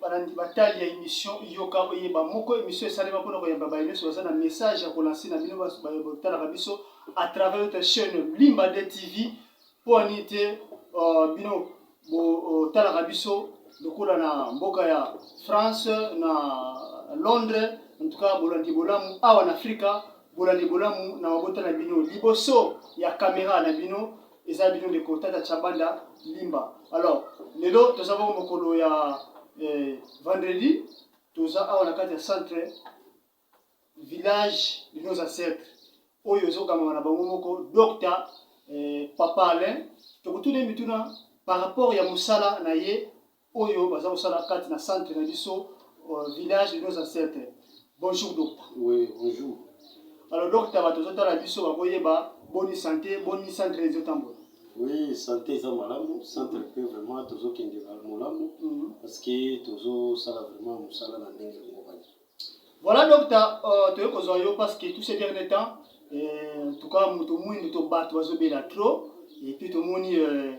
balandi batali ya émission yoka oyeba moko émission esalema mpona koyamba baye nyonso baza na message ya kolanse na bino batalaka biso à travers notre chaîne limba de tv Mpo na nini te uh, bino botalaka uh, biso lokola na mboka ya France na Londres, en tout cas bolandi bolamu awa na Afrika, bolandi bolamu na mabota na bino liboso ya kamera na bino eza bino ndeko Tata Chabanda Limba. Alors lelo toza bongo mokolo ya eh, vendredi toza awa na kati ya centre Village de nos ancetres oyo ezo kangama na bango moko Docta eh, Papa Alain tokotuna ye mituna par rapport ya mosala na ye oyo baza kosala kati na centre na biso uh, village de nos ancetres. Bonjour Docta. Oui, bonjour. Alors Docta bato ozotala biso bakoyeba boni santé boni centre ezotambola. Oui, santé eza malamu, centre mm -hmm. pe vraiment tozokende malamu mm -hmm. parce que tozosala vraiment mosala na ndenge yango bani. Voilà docteur, euh, toye kozwa yo parce que tout ces derniers temps euh, tuka moto mwindu to bato bazobela trop et puis tomoni euh,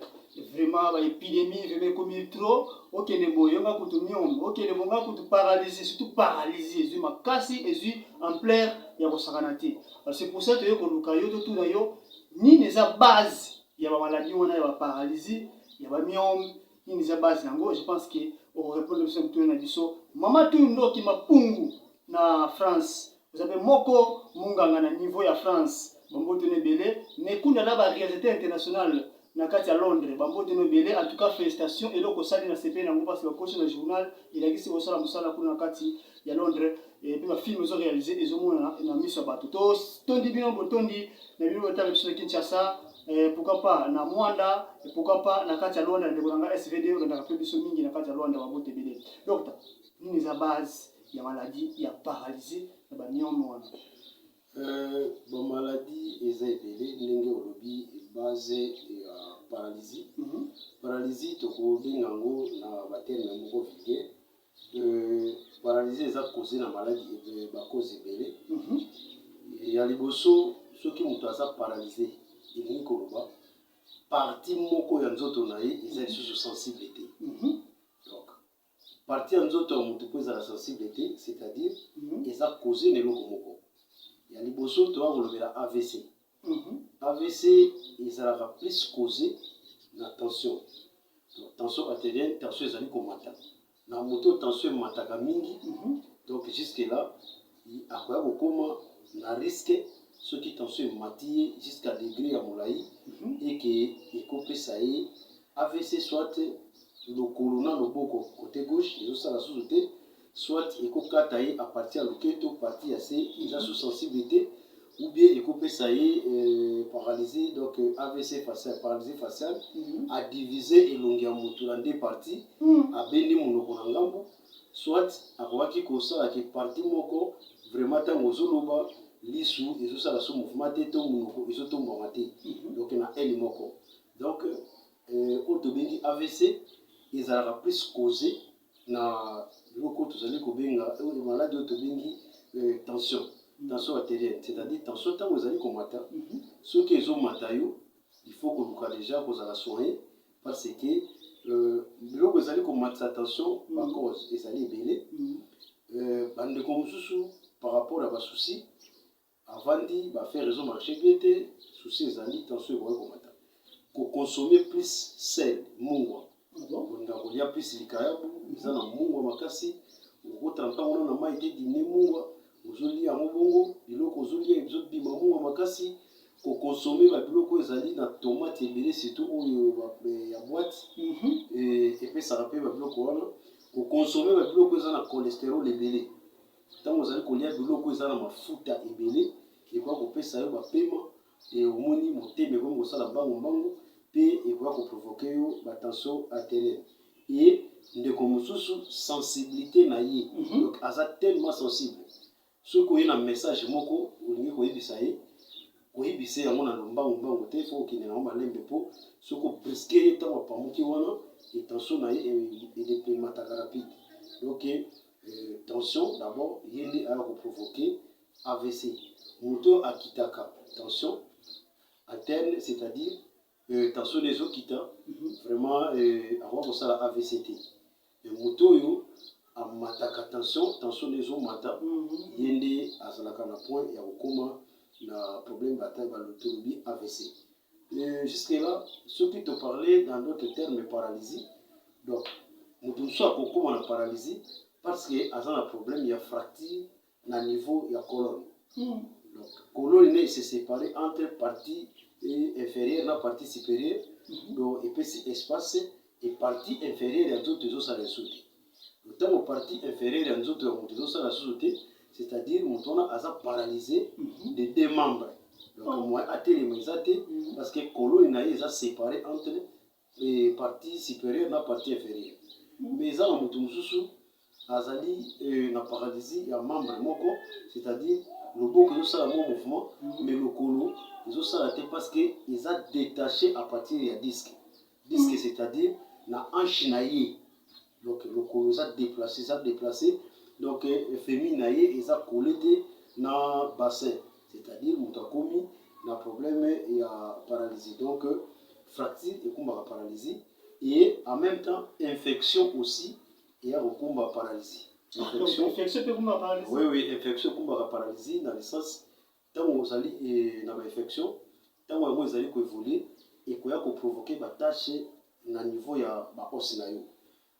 vraiment ba épidémie vraiment ekomi trop okende boye nga kutu miom okende boye nga kutu paralysie surtout paralysie ezwi makasi ezwi ampleur ya kosakana te alors c'est pour ça toye koluka yo totuna yo nini eza base ya bamaladi wana ya baparalysie ya bamiome Nini eza base na yango? Je pense que oko repondre biso mituna na biso. Mama Tuyu Ndoki Mapungu na France. Oza pe moko munganga na niveau ya France. Ba mbote no ebele. Mais Kunda na ba realisateur international na kati ya Londres. Ba mbote no ebele. En tout cas felicitation eloko osali na sepeli na yango parce que ba kosi na journal elakisi osala musala kuna na kati. ya Londres et eh, puis ba film ezo réaliser ezo monana na miso ya bato to tondi bino botondi na bino botala biso na Kinshasa eh, pourquoi pas na Mwanda et eh, pourquoi pas na kati ya Luanda ndeko na nga SVD olandaka mpe biso mingi na kati ya Luanda babote ebele donc nini eza base ya maladie ya paralysie na bamiome wana euh, bamaladie eza ebele ndenge olobi base ya paralysie mhm. paralysie tokobenga yango na baterne moko vulgaire Paralysie eza cause na maladi ba cause ebele ya liboso soki moto aza paralyse elingi koloba parti moko ya nzoto na ye eza lisusu sensible te mhm. donc parti ya nzoto ya moto mpo ezala sensible te c'est-à-dire mhm. eza cause na eloko moko ya liboso toya kolobela avc Avc ezalaka plus cause na tension donc tension arterielle tension ezali komata na moto oyo tension emataka mingi donc jusque là akoya kokoma na risque soki tension emati ye jusqu'à degré ya molai eke ekopesa ye avc soit lokolo na loboko cote gauche ezosala susu te soit eko kata ye à partir ya loketo partie ya se eza sous sensibilité ou bien eko pesa ye euh, paralysie donc euh, AVC facial paralysie faciale mm -hmm. a diviser elongi ya mutu na deux parties mm -hmm. abendi monoko na ngambo soit akokaki kosala ke partie moko vraiment ntango ozoloba lisu ezosala so mouvement te to monoko ezotombwama te mhm. donc na aile moko donc euh, oyo tobengi avc ezalaka plus cause na biloko oyo tozali kobenga oyo maladi oyo tobengi euh, tension tension arterielle c'est-à-dire tension ntango ezali komata mhm. soki ezomata yo il faut koluka déjà kozala soigné parce que euh, biloko ezali komatisa tension mhm. bacause ezali ebele mhm. euh, bandeko mosusu par rapport ya basusi Avandi ba affaires ezo marche bien te souci ezali tension ekoki komata ko consommer plus sel mungwa olinga kolia plus likayabu eza na mungwa makasi oko trempa yango na mayi te dine mungwa ozolia yango bongo biloko ozolia ezobima mungwa makasi ko consommer ba biloko ezali na tomate ebele surtout oyo ya boite epesaka mpe ba biloko wana ko consommer ba biloko eza na cholesterol ebele Ntango ozali kolya biloko oyo eza na mafuta ebele, ekoki kopesa yo bapema, e, omoni, motema ekomi kosala mbangu mbangu, mpe ekoki koprovoke yo ba tension arterielle. E, ndeko mosusu sensibilite na ye, mm -hmm. donc aza tellement sensible, soki oye na message moko olingi koyebisa ye koyebisa yango na lombangu mbangu te, fo okende nango malembe, mpo soki obriske ye ntango apamuki wana, etension na ye edepemataka rapide donc euh, tension d'abord ye nde aya koprovoke avc moto oyo akitaka tension aterne c'est-à-dire euh, tension nde ezokita mhm. vraiment euh, akoki kosala avc te moto oyo amataka tension tension nde ezomata mhm. ye nde azalaka na point ya kokoma na problème bata balotolobi avc Euh, jusque là soki to parler dans d'autres termes paralysie donc moto mosusu akokoma na paralysie parce que aza na problème ya fracture na niveau ya colonne mm. donc colonne ne se séparer entre partie inférieure na partie supérieure mm -hmm. donc epesi espace et partie inférieure ya nzoto ezosala esuki ntango partie inférieure ya nzoto ya moto ezosala susu te c'est-à-dire moto wana aza paralyse mhm. de deux membres donc oh. moyen atelema eza te mhm. parce que koloni na ye eza séparé entre eh, partie supérieure na partie inférieure mhm. mais eza na moto mosusu azali eh, na paralysie ya membre moko c'est-à-dire loboko ezosala mwa mouvement mais lokolo ezosala te parce que eza détaché à partir ya disque Disque c'est à dire na hanche na ye donc lokolo eza deplace eza deplace donc femi na ye eza kole te na bassin c'est à dire moto akomi na problème ya paralysie donc fracture ekumbaka paralysie et en même temps infection aussi eya kokumba paralysie infection mpe ekumbaka paralysie oui oui infection ekumbaka paralysie na licence Tango ozali na ba infections, tango yango ezali ko evoluer, ekoya ko provoquer ba taches na niveau ya ba os na yo.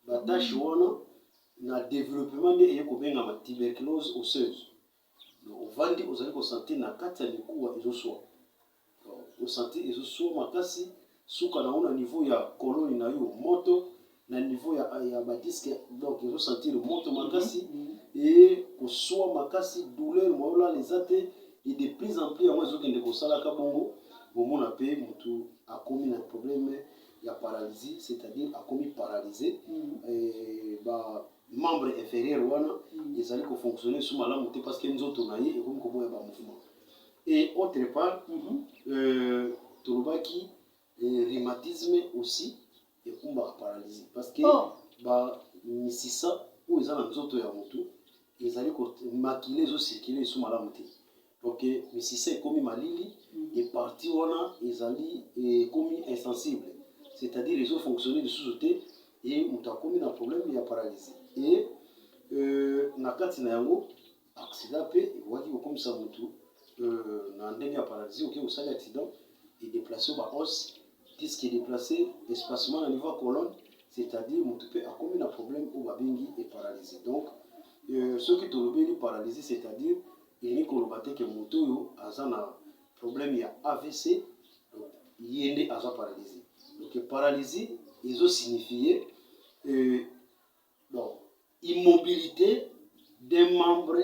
Ba taches wana na developpement nde eye kobengama tuberculose osseuse. Donc ovandi ozali ko sentir na kati ya mikuwa ezo swa, o sentir ezo swa makasi. Suka nango na niveau ya koloni na yo moto na niveau ya ya ba disque donc ezo sentir moto makasi et kosua makasi douleur moyo olala eza te et de plus en plus yango ezokende kosalaka bongo bomona pe motu akomi na problème ya paralysie c'est-à-dire akomi paralyse et ba membre inférieur wana ezali kofonctionner su malamu te parce que nzoto na ye ekomi koboya ba mouvement Et autre part, mm -hmm. euh, tolobaki euh, rhumatisme aussi ekumbaka paralysie parce que oh. ba misisa oyo eza na nzoto ya motu ezali makila ezocircule esu malamu te donc euh, misisa ekomi malili mm. e parti wana ezali ekomi euh, insensible c'est-à-dire ezofonctionne lisusu te e moto akomi na problème ya paralysie e euh, na kati na yango Aksida mpe ekokaki kokomisa moto euh, na ndenge ya paralisi. Oke kosali aksida, edeplace ba os, diske edeplace, espacement na niveau ya colonne, c'est-à-dire moto mpe akomi na problème oyo babengi eparalisi. Donc euh, soki tolobeli paralisi, c'est-à-dire elingi koloba te ke moto oyo aza na problème ya AVC, donc ye nde aza paralisi. Donc paralisi ezo signifie euh, donc immobilite d'un membre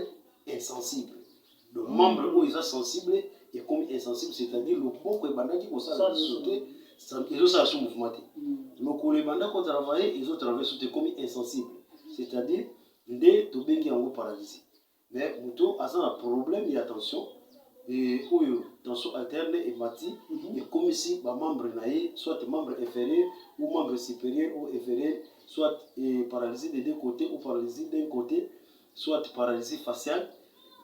insensible donc membre oyo eza sensible ekomi insensible c'est-à-dire loboko ebandaki kosala lisusu te ezosala su mouvement te lokolo ebanda kotravaille ezotravaille su te ekomi insensible c'est-à-dire nde tobengi yango paralysie Mais moto aza na problème ya tension et oyo tension arterielle emati ekomisi ba membres na ye soit membre inferieur ou membre superieur ou inferieur soit paralysie des deux cotes ou paralysie d'un cote soit paralysie faciale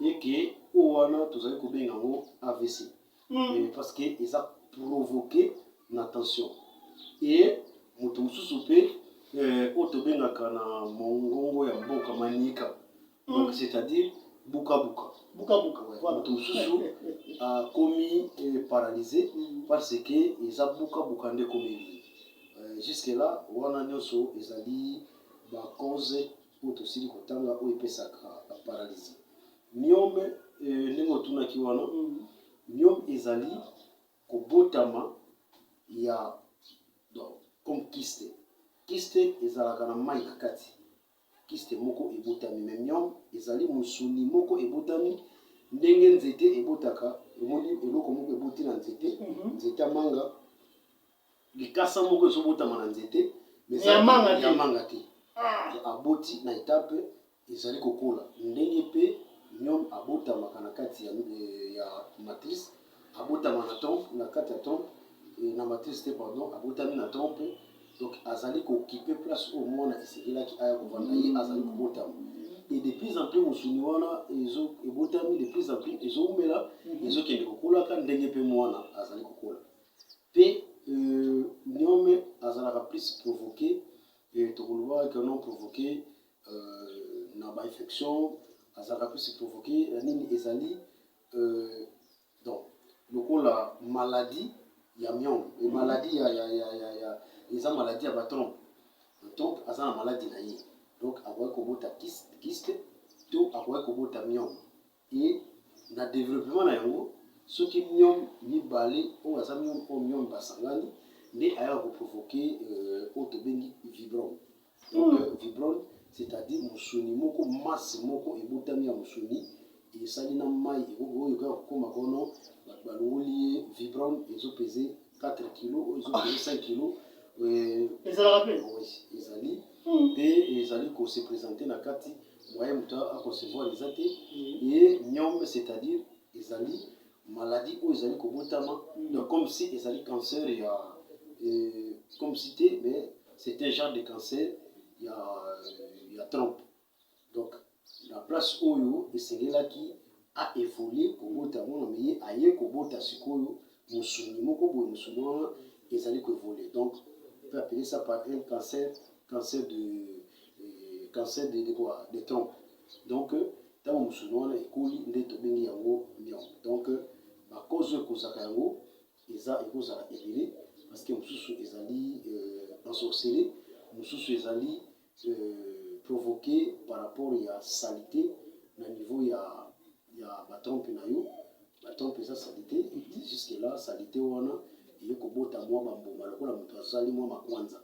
et que oyo wana tozali kobenga yango avc. mm. parce que eza provoquer na tension et moto mosusu mpe euh, oyo tobengaka na mongongo ya mboka manieka mm. donc c'est-à-dire bukabuka bukabuka moto mosusu akomi euh, paralyse mm. parce que eza bukabuka nde komeli euh, jusque là wana nyonso ezali bacause oyo tosili kotanga oyo epesaka paralizi. Myome, eh, ndenge otunaki wana, myome ezali kobotama ya donc comme kiste kiste ezalaka na mai na kati kiste moko ebotami me myome ezali mosuni moko ebotami ndenge nzete ebotaka omoni eloko moko eboti na nzete mhm. nzete ya manga Likasa moko ezo botama na nzete mais ya manga te, ya manga te. Ah. Aboti na etape ezali kokola ndenge pe niom abotamaka na kati ya, eh, ya matrice abotama na trompe na kati ya trompe eh, na matrice te pardon abotami na trompe donc azali kokipe place oyo mwana esengelaki aya kovanda ye azali kobotama et de plus en plus mosuni wana ezo ebotami de plus en plus ezoumela mhm. ezokende kokolaka ndenge mpe mwana azali kokola Pe euh niome azalaka plus provoque euh toko lobaka que non provoque euh na ba infection azalaka plus provoque na nini ezali euh donc lokola maladie ya miome et maladie ya ya ya ya ya eza maladie ya ba trompe donc aza na maladi na ye donc akoki kobota kyste to akoki kobota miome Mpe na developpement na yango, soki myome mibale oyo baza myome oyo myome basangani, nde ayaka ko provoquer oyo tobengi vibrome. Donc vibrome c'est à dire mosuni moko, masse moko ebotami ya mosuni esali na mayi oyo ekoya kokoma kono batu balongoli ye vibrome ezo peser 4 kilo oyo ezokende 5 kilo ezalaka mpe ezali mpe hmm. ezali kose présente na kati moyen moto aconcevoir eza te ye hmm. niome c'est-à-dire ezali maladie oyo ezali kobotama hmm. donc comme si ezali cancer ya comme si te mais c'est un genre de cancer ya ya trompe Donc na place oyo esengelaki a evoluer kobota mwana mais ye aye kobota sikoyo mosuni moko boye mosuni wana ezali ko evoluer donc peut appeler ça par un cancer cancer de euh, cancer de, de quoi de tronc donc ntango euh, mosuni wana ekoli nde tobengi yango mion donc euh, bakozo ekozaka yango eza ekozala ebele parce que mosusu ezali euh, ensorcele mosusu ezali provoque par rapport ya salite na niveau ya ya ba trompe na yo ba trompe eza salite et jusque là salite wana eye kobota mwa bambuma lokola moto azali mwa makwanza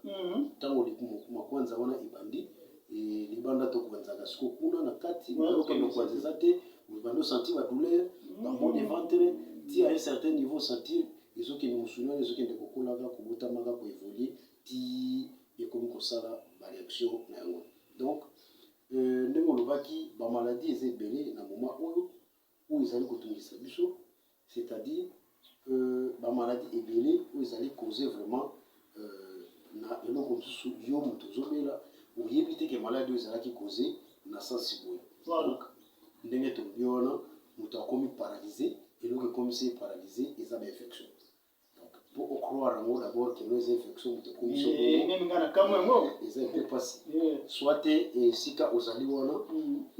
ntango mhm. makwanza wana ebandi e, libanda tokwanzaka siko kuna na kati nayoka makwanza eza te obandi osanti badouleur mhm. bambo de ventre ti à un certain niveau sentir ezokende mosuni wana ezokende kokolaka kobotamaka koevolue tii ekomi kosala ba reaction na yango donc euh, ndenge olobaki ba maladie eza ebele na moment oyo oyo ezali kotungisa biso c'est-à-dire euh, ba maladie ebele oyo ezali cause vraiment euh, na eloko mosusu yo moto ozobela oyebi te ke maladi oyo ezalaki cause na sansi boye donc ndenge tolobi wana moto akomi paralyse eloko ekomisi ye paralyse eza ba infection Donc pour au croire en d'abord que nous infection mutu ekomi so bongo. Meme nga na kamwe yango. Eza un peu pasi. Soit te esika ozali wana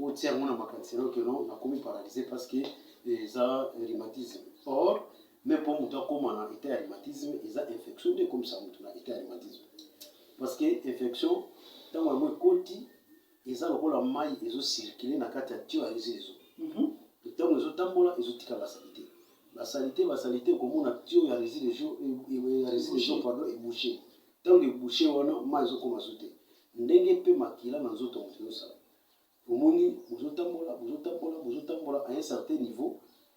otia yango na makanisi no que non nakomi paralysé parce que eza rhumatisme. Or mais mpo moto akoma na état ya rhumatisme eza infection nde ekomisa moto na état ya rhumatisme parce que infection ntango yango ekoti eza lokola mai ezo circule na kati ya tuyau ya ezezo mpe ntango ezotambola ezotika basalite basalite basalite okomona tuyau ya resi regio ya resi regio pado ebouche ntango ebouche wana mai ezokoma zo te ndenge mpe makila na nzoto moto ezosala omoni bozotambola bozotambola bozotambola a un certain niveau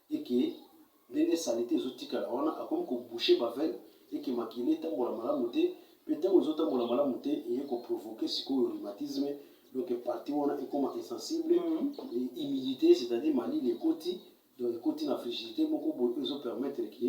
et que ndenge salite ezo tikala wana akomi ko boucher ba veines et que makila etambola malamu te pe tango ezo tambola malamu te eye ko provoquer sikoyo rhumatisme donc partie wana ekoma insensible humidite c'est à dire malili ekoti donc ekoti na frigidite moko boye oyo ezo permettre que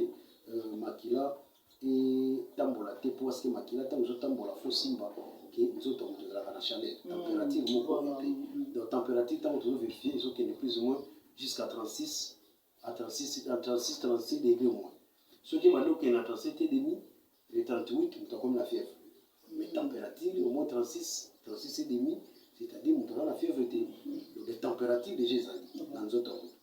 euh, makila etambola te mpo parceke makila ntango ezotambola fo simba ke nzoto ya moto ezalaka na chaleur mm. température moko mm. te donc température ntango tozo verifie ezokende plus ou moins jusqu'à 36 à 36 à 36 36 degré moins soki ebandi okende na 37 et demi le 38 moto akomi na fièvre mais mm. température au moins 36 36 et demi c'est-à-dire moto aza na fièvre te donc température déjà ezali na nzoto ya moto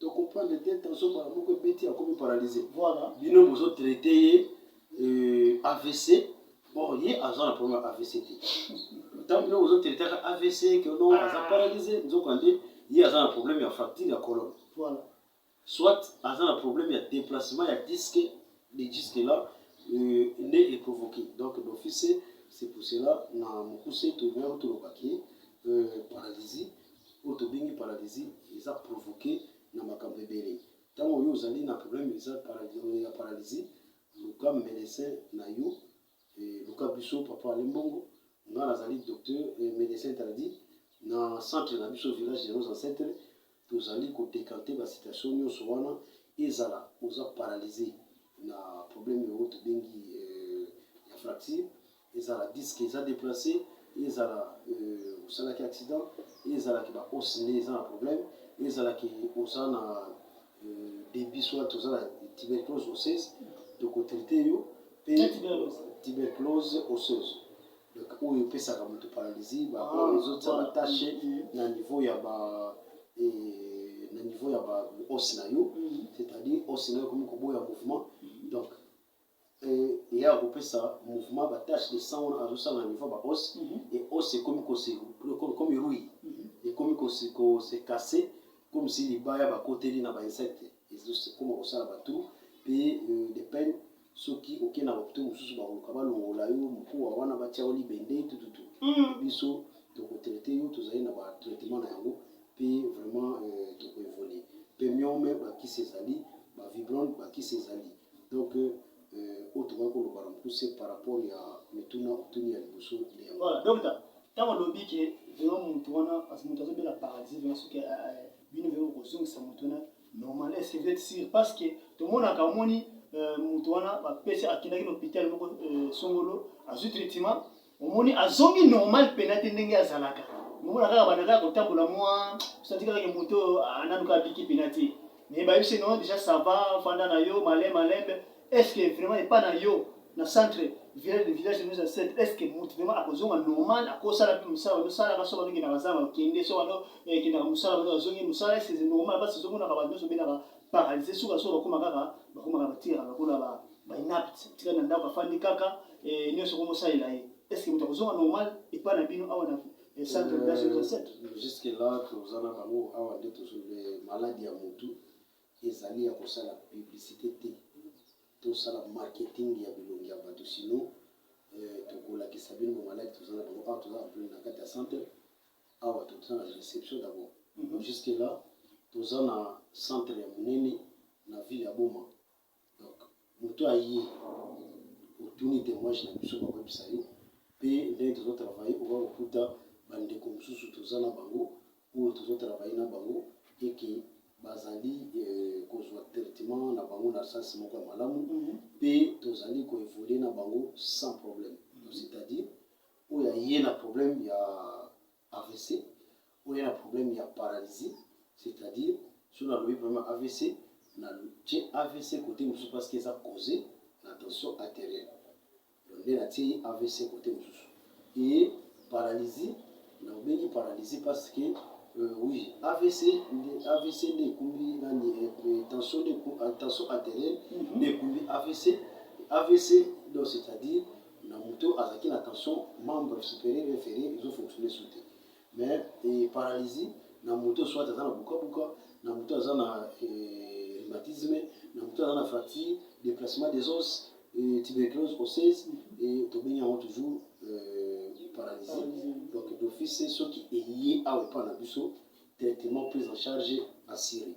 To comprendre te tension mbala moko ebeti akomi paralyse. Voilà. Bino bozo traiter ye euh, AVC or ye aza na problème ya AVC te. Ntango bino bozo traiter ka AVC que non aza ah. paralyse nzokande ye aza na problème ya fracture ya colonne. Voilà. Soit aza na problème ya déplacement ya disque de disque là euh, nde e provoquer. Donc d'office c'est pour cela na mokuse toyebaki tolobaki euh, paralysie oyo tobengi paralysie eza provoque na makambo ebele ntango yo ozali na problème eza ya paralysie luka medecin na yo eh, luka biso papa alimbongo nga nazali docteur eh, medecin tradi na centre na biso village de nos ancêtres tozali kodekante basituation nyonso wana ezala oza paralysie na problème oyo tobengi eh, ya fracture Ezala disque eza deplace, ezala euh, osalaki accident, ezala ke ba os nde eza na problème, ezala ke oza na euh, débit soit oza na tuberculose osseuse, toko traiter yo pe tuberculose osseuse donc oyo epesaka moto paralysie ba ah, ezotia ba tache na niveau ya ba eh, na niveau ya ba os na yo mm-hmm. c'est-à-dire os na yo ekomi koboya mouvement mm-hmm. donc et ye akopesa mouvement ba tâche de sang wana azosala na niveau ba os mm -hmm. et os ekomi kose comme rui mm -hmm. ekomi kose kose casse comme si libaya bakoteli na ba insecte ezokoma kosala batu pe euh, de peine soki okei na hopitau mosusu bakoluka balongola yo mokuwa wana batya yo libende tututu mm. biso tokotraite yo tozali na batraitement na yango pe vraiment euh, tokoevole pe miome bakisi ezali bavibrone bakisi ezali Donc euh, oyo tokaki koloba na mokuse par rapport ya mituna otuni ya liboso nde yango. Voilà, docteur, ntango olobi ke vraiment moto wana parce que moto azobela paralysie vraiment soki euh, euh, bino vraiment kozongisa moto wana normal est ce que vous êtes sûr parce que tomonaka omoni euh, moto wana bapesi akendaki na hôpital moko songolo azwi traitement Omoni azongi normal pena te ndenge azalaka. Omona kaka banda kaka kotambola mwa santi kaka ke moto oyo ananu kaka biki pena te. Mais ba yebisi non deja ça va fanda na yo malin malembe. Est ce que vraiment epa na yo na centre village de village nous ancêtre est ce que moto vraiment akozonga normal akosala pe mosala bazo sala ka soka ndoki na bazanga okende soka no ke na mosala bazo azongi mosala est ce que normal parce que zomona ka bato nyoso benaka paralyse suka suka bakoma kaka bakoma kaka batira bakola ba ba inapte tika na ndako afandi kaka eh, nyonso ko bosalela ye est ce que moto akozonga normal epai na bino awa na eh, centre de base recette euh, jusque là toza na bango awa nde tozolobe maladi ya motu ezali ya kosala publicité te tosala marketing ya bilongi ya bato sino euh, tokolakisa bino bamaladi toza na bango awa toza ampli na kati ya centre awa toza na réception d'abord mhm. jusque là toza na centre ya monene na ville ya boma Donc moto aye otuni temoignage na biso bakoyebisa yo pe ndenge tozo travailler okoya kokuta ba ndeko mosusu toza na bango oyo tozo travailler na bango et que bazali kozua traitement na bango na sens moko ya malamu pe tozali ko evoluer na bango sans problème donc c'est à dire oyo aye na problème ya avc oya na problème ya paralysie c'est à dire soki nalobi problème ya avc na tie avc kote mosusu parce que eza cause na tension arterielle donc nde natie avc kote mosusu eye paralysie na obengi paralysie parce que euh, oui avc nde avc nde ekumbi nani euh, tension nde tension arterielle mhm. nde ekumbi avc avc donc c'est à dire na moto azalaki na tension membre superieur ya inferieur ezo fonctionner su te mais eh, paralysie na moto soit aza na bukabuka na moto aza na eh, rhumatisme na moto aza na fracture déplacement des os eh, tuberculose osseuse eh, tobengi yango toujours eh, paralysie donc d'office soki eye awa epai na biso traitement prise en charge assurée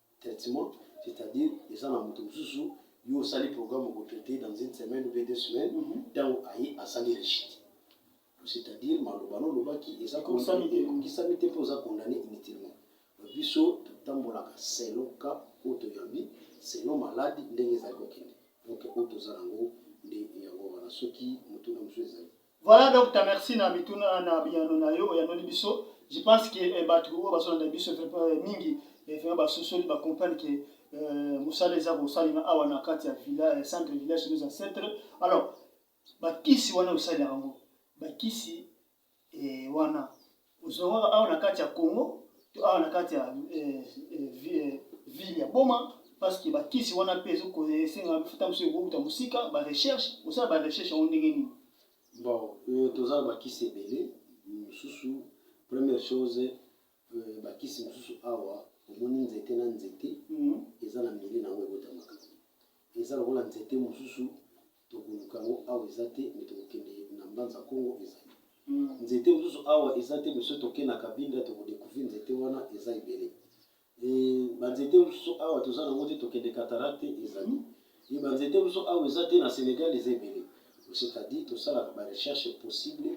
traitement c'est à dire eza na moto mosusu yo osali programme oko traite dans une semaine ou deux semaines ntango mhm. aye asali rechite c'est à dire maloba no olobaki eza ekokisami te mpe oza condamne inutilement biso totambolaka selon cas oyo toyambi selon maladi ndenge ezali kokende donc oyo toza nango nde yango wana soki motuna mosusu ezali Voilà docteur merci na mituna na biyano na yo oyanoli biso je pense que eh, bato oyo bazolanda biso eh, mingi eh, vraiment basosoli bacomprendre que eh, mosala eza kosalema awa na kati ya villa eh, centre village nos ancêtre alors bakisi wana osalelaka yango bakisi eh, wana Ozongaka awa na kati ya Congo to awa na kati ya eh, eh, eh, ville ya Boma parce que bakisi wana mpe esenga mafuta mosusu ekouta mosika ba recherche osala ba recherche yango ndenge nini bon euh, toza na bakisi ebele mosusu première chose euh, bakisi mosusu awa omoni nzete na nzete mhm. eza na mili na yango ekotamaka eza lokola nzete mosusu Tokoluka yango awa eza te mais tokokende na mbanza kongo ezali nzete mosusu awa eza te monsieur toke na kabinda toko decouvrir nzete wana eza ebele banzete mosusu awa toza nango te tokende cataracte ezali ye banzete mosusu awa eza te na senegal eza ebele c'est-à-dire tosalaka ba recherche possible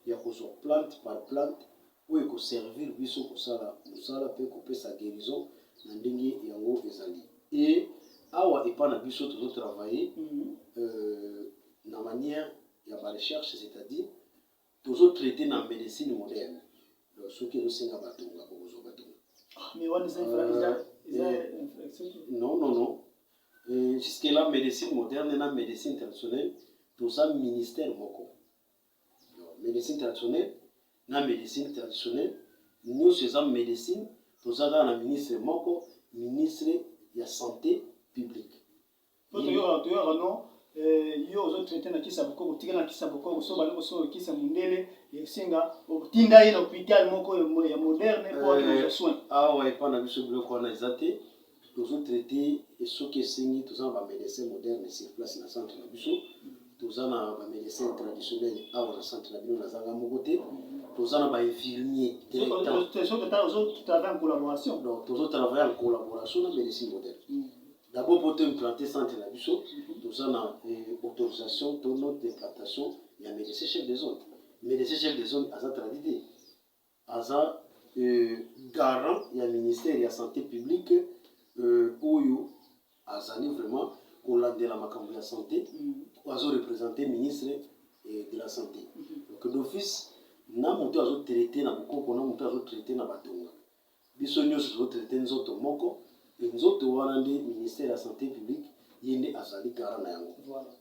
ya kozwa plante par plante oyo eko servir biso kosala musala pe kopesa guerison na ndenge yango ezali et awa epa na biso tozo travailler na maniere ya ba recherche c'est à dire tozo traite na medecine moderne donc soki ezo senga ba tonga bokozua ba tonga Mais wana eza infra eza eza infraction te. non non non jusque là medecine moderne na medecine traditionnelle toza ministère moko Medecine traditionnelle na medecine traditionnelle nioso eza medecine toza kaka na ministre moko ministre ya sante publique po toyoka toyoka no eh, yo ozo traite na kisa bokoko tika na kisa bokoko so bana kosoka kisa mundele esenga otinda ye na hôpital moko ya moderne po akende kozwa soin awa epa na biso biloko wana eza te tozo traiter et soki esengi toza na ba medecins modernes sur place na centre na biso toza na ba medecins traditionnels awa na centre na bino nazanga moko te toza na ba infirmiers directement donc tozo travailler en collaboration na medecine moderne mm. d'abord mpo to implante centre na biso mm-hmm. toza na eh, autorisation to note d'implantation ya médecin chef de zone médecin chef de zone aza tradite Aza garant ya ministère ya sante publique oyo azali vraiment kolandela makambo ya sante oyo azo represente ministre de la sante donc d'office na moto azo traite na bokoko na moto azo traite na batonga biso nyonso tozo traite nzoto moko e nzoto wana nde ministère ya sante publique ye nde azali garant na yango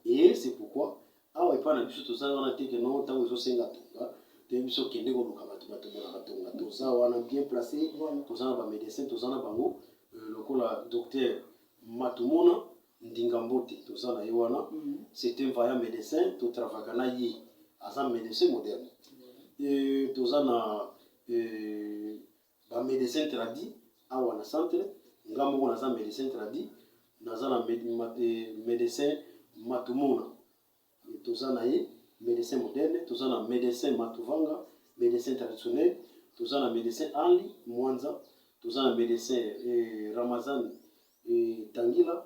e c'est pourquoi Awa epa na biso toza wana te que non tango ezo senga tonga te biso kende koluka bato bato bolaka tonga toza wana bien place toza na ba medecin toza na bango euh, lokola docteur matumona ndinga mbote toza na ye wana mm. c'est un vaillant médecin totravaka na ye aza médecin moderne toza na Ba medecin tradi awa na centre nga moko naza medecin tradi naza na med, ma, eh, medecin matumona toza na ye medecin moderne toza na medecin matuvanga medecin traditionnel toza na medecin ali mwanza toza na medecin eh, ramazan eh, tangila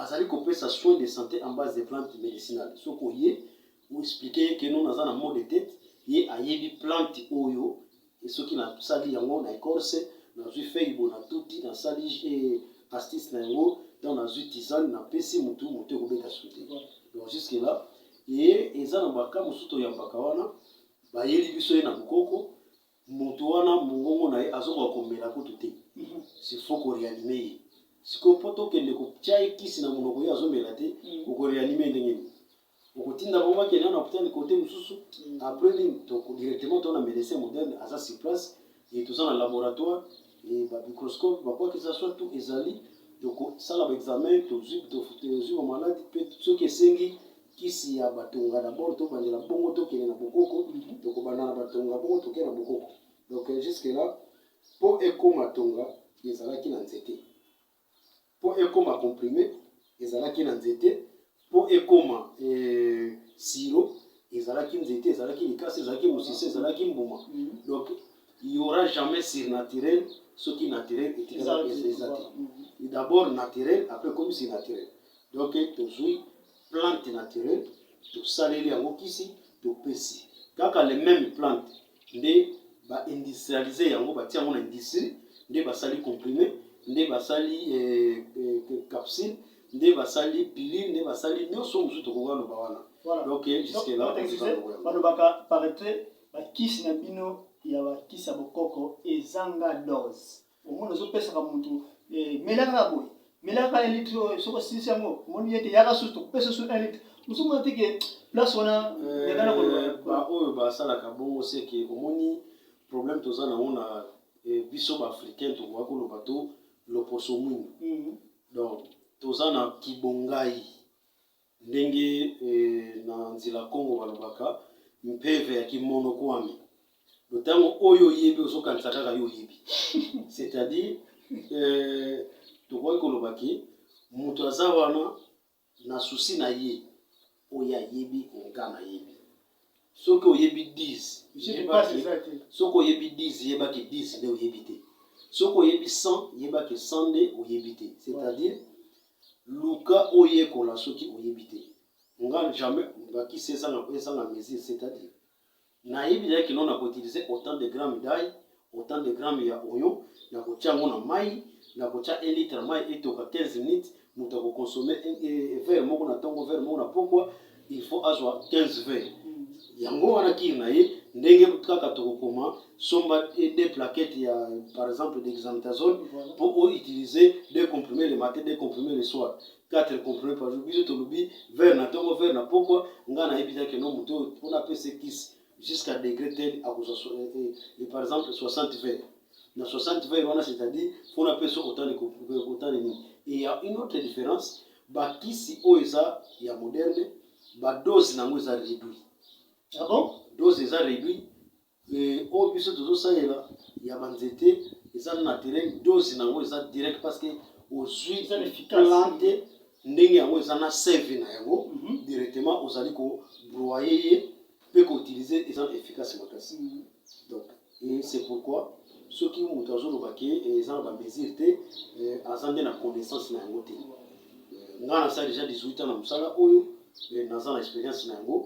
Azali kopesa soins de sante en base des plantes medicinales. Soki oye, o expliquer ye que non naza na maux de tete, ye ayebi plante oyo soki nasali yango na ecorce, nazui feuille boye natuti, nasali astuce na yango, donc nazui tisane napesi mutu, mutu ekobeta suki te. Donc jusque là, et eza na ba cas mosusu toyambaka wana, bayeli biso ye na bokoko, Mutu wana mungongo na ye azokoka komela kutu te c'est faut ko reanime ye sikoyo po tokende kotia ye kisi na munoko ye azomela te oko reanime ye ndenge nini okotinda bango bakende na na hopital kote mosusu après nini directement to na medecin moderne aza sur place et toza na laboratoire Et ba microscope ba quoi que ça soit tout ezali toko sala ba examen tozui tozui ba malade pe soki esengi kisi ya batonga d'abord to bandela bongo to kende na bokoko mhm. toko banda na batonga bongo toke na bokoko donc euh, jusque là po ekoma tonga ezalaki na nzete mpo ekoma comprime ezalaki na nzete mpo ekoma eh, siro ezalaki nzete ezalaki likasi ezalaki mosisi ezalaki mbuma mm. donc il y aura jamais surnaturel soki naturel etikala eza te mm. d'abord naturel après ekomi surnaturel donc tozwi plante naturel tosaleli yango kisi topesi kaka le meme plante nde ba industrialise yango batia yango na industrie nde basali comprime nde basali eh, eh, capsule nde basali pilule nde basali nyonso mosusu tokoka loba wana voilà. donc eh, jusque là balobaka paraître bakisi na bino ya bakisi ya bokoko ezanga dose omoni ozopesaka motu eh, mela kaka boye mela kaka un litre oyo soki osilisi yango omoni ye te yaka susu tokopesa su un litre mosomona te ke place wana yekana eh, koloba baoyo basalaka bongo seke omoni problème toza nango na eh, biso baafricain tokoka koloba to loposo mwindu mhm. donc toza na kibongai Ndenge na nzila Kongo balobaka mpeve ya kimonokuami do tango oyo oyebi ozo kanisa kaka yo oyebi c'est à dire euh, tokoki koloba ke moto aza wana na susi na ye oyo ayebi konga nayebi soki oyebi 10 yeba ke soki oyebi 10 yeba ke 10 nde oyebi te soki oyebi 100 yeba ke 100 nde oyebi te c'est-à-dire luka oyekola soki oyebi te nga jamais bakisi ezanga ezanga mesure c'est-à-dire nayebi naye kino na koutilize autant de grammes d'ail Autant de grammes ya oignon, nakotia yango na mayi, nakotia un litre ya mayi etoka 15 minutes, moto ako consommer verre moko na tongo, verre moko na pokwa, il faut azwa 15 verres. Yango wana kir na ye, ndenge kaka tokokoma somba deux plaquettes ya par exemple dexamethasone mpo o utiliser deux comprimes le matin, deux comprimes le soir. 4 comprimes par jour. Biso tolobi verre na tongo, verre na pokwa, ngai nayebi te que non moto oyo mpo napesa ye kisi jusqu'à degre tel akozwa par exemple 60 vers na 60 vers wana c'est à dire mpona mpe soki otali kotali nini et ya une autre différence bakisi oyo eza ya moderne badose na yango eza réduit ah bon dose eza réduit oyo biso tozosalela ya banzete eza naturel dose na yango eza direct parce que ozwi plante ndenge yango eza na seve na yango mhm. directement ozali kobroye ye pe ko utiliser eza efficace makasii donc et c'est pourquoi soki mutu azo loba ke eza na ba mesure te aza nde na connaissance na yango te nga na sala deja 18 ans na musala oyo naza na experience na yango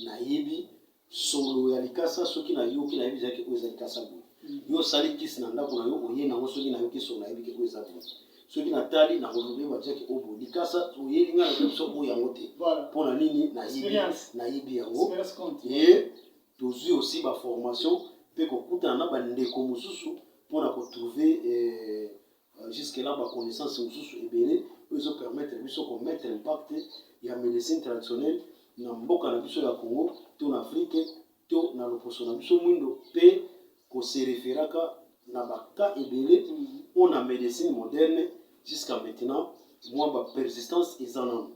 nayebi solo ya likasa soki nayoki nayebi deja ke oyo eza likasa boye yo osali kisi na ndako na yo oye nango soki na yo kisi onayebi ke oyo eza boye soki natali nakolobe bajaki oyo boye likasa oyeli ngai na biso oyo yango te mpo na nini nayebi yango e tozwi osi baformation mpe kokutana na bandeko mosusu mpo na kotrouve eh, Jusque là ba connaissances mosusu ebele oyo ezo permettre biso ko mettre impact ya medecine traditionnelle na mboka na biso ya Congo to na Afrique to na loposo na biso mwindo mpe ko se referaka na ba cas ebele oyo na medecine moderne jusqu'à maintenant mwa ba persistance eza nano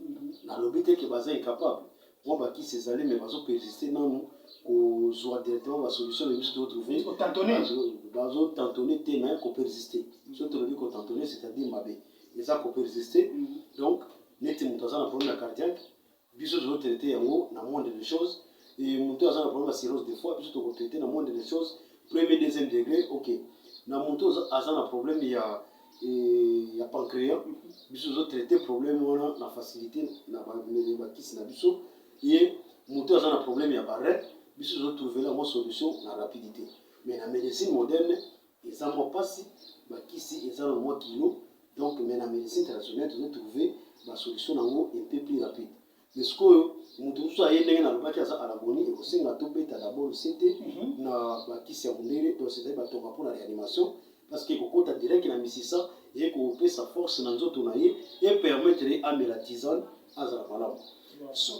nalobi te ke baza incapable Oyo ba kisi ezali mais bazo persister nanu kozua directement ba solution mais biso to trouver Ko tantonner. bazo- bazo tantonner te mais ko persister soki tolobi ko tantonner c'est à dire mabe eza ko persister donc neti moto aza na problème ya cardiaque biso tozo traiter yango na moindre des choses et moto oyo aza na problème ya cirrhose de foie biso toko traiter na moindre des choses premier deuxième degré ok na moto oyo aza- aza na problème ya ya pancreas biso ozo traite problème wana na facilité na bakisi na biso ye moto aza na problème ya barre biso ozo trouve yango solution na rapidité mais na médecine moderne eza mwa mpasi bakisi eza na mwa kilo donc mais na médecine traditionnelle tozo trouve basolution na yango epe plus rapide Mais sikoyo moto mosusu aye ndenge nalobaki aza alaboni ekosenga tobeta dabord sete mhm. na bakisi ya mondele to cetadi batonga mpo na réanimation parce que kokota direct na misisa eye kopesa force na nzoto na ye epermettre ye amela tisane azala malamu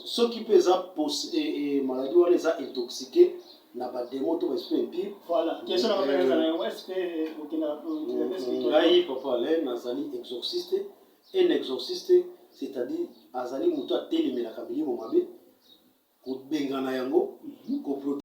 soki mpe eza e, e, maladie wana eza intoxique na bademo to baesprit impire ngai papa le nazali exorciste Un exorciste c'est à dire azali mutu atelemelaka milimo mabe kobengana yango ko proteger